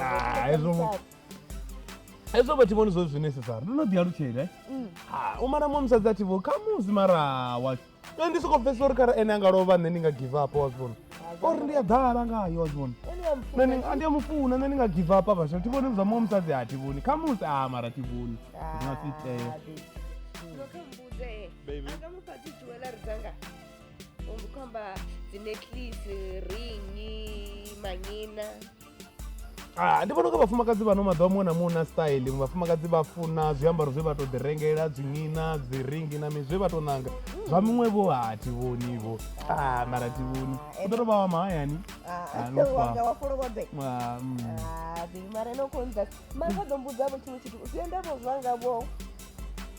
Ah, hezwo- hezvo vha thi vhoni zwo zwinesesara ndo no ḓi alutshela eh? Mm. Ah, u mara mwa musadzi a thi vho khamusi mara wa nṋe ndi soko pfesa uri kharali ene a nga lovha nṋe ndi nga give up wa zwivhona ori ndi a ḓala ngayo wa zwivhona nṋe ndi- a ndi a mu funa nṋe ndi nga give up vhasha thi vhoni zwa mwa musadzi a thi vhoni khamusi a mara thi vhoni zwi nga si itea Baby. Anga mufati jewellery dzanga. umbi khomba dzineclise ringi manyina Ah, ndi vhona unga vhafumakadzi vhano maḓuvha muṅwe na muṅwe na style vhafumakadzi vha funa zwiambaro zwe vha to ḓi rengela dzimina dzi ringi na mini zwe vha to nanga zwa miṅwe vho ha thi vhoni vho ah, mara thi vhoni u ḓo to vha wa mahayani Ah, no fa. wanga wa folobobe Ah, mm. Ah, mara no konza mara vha ḓo mbudza vho tshiṅwe tshithu u sia ndavho zwanga vho